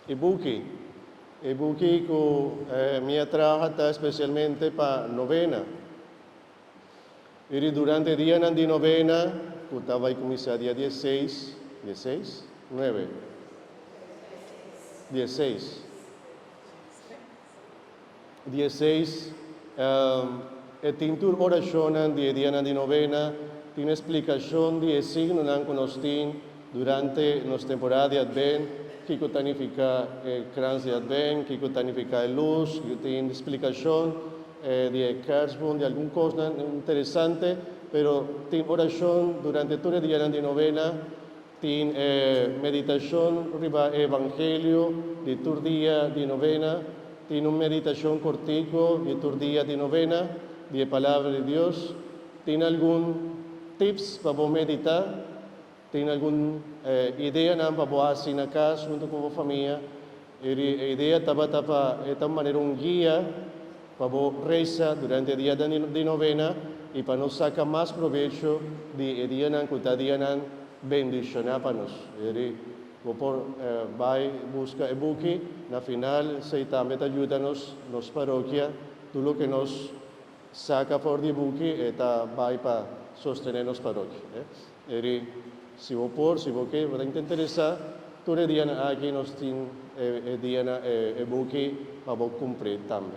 E buki E buki ku mi a traha ta spesialmente pa novena. Iri durante e dianan di novena, ku ta bai kuminsá dia dies seis, dies seis? Nuebe? Dies seis. di e seis, e tin tur orashonnan di e dianan di novena, tin e splikashon di e signonan ku nos tin durante nos temporada di Adbènt, kiko ta nifiká e krans di Adbènt, kiko ta nifiká e lus, yu tin splikashon di e kèrsbum, di algun kosnan interesante, pero tin orashon durante tur e dianan di novena. Tin e meditashon riba e evangelio di tur dia di novena, tin un meditashon kortiku di tur dia di novena di e Palabra di Dios, tin algun tips pa bo meditá, tin algun ideanan pa bo hasi na kas huntu ku bo famia. Eri e idea tabata pa e ta un manera un guia pa bo resa durante e dia di novena i pa nos saca mas probecho di e dianan cu ta dianan bendicioná pa nos. Eri bo por bay busca e buki. Na final esey tambe ta yuda nos, nos parokia. Tur loke nos saca for di e buki e ta bay pa sostené nos parokia. Eri, si bo por, si bo ke, bo ta intenteresá, tur e dianan aki nos tin e, e dianan, e, e buki pa bo kumpr'é tambe.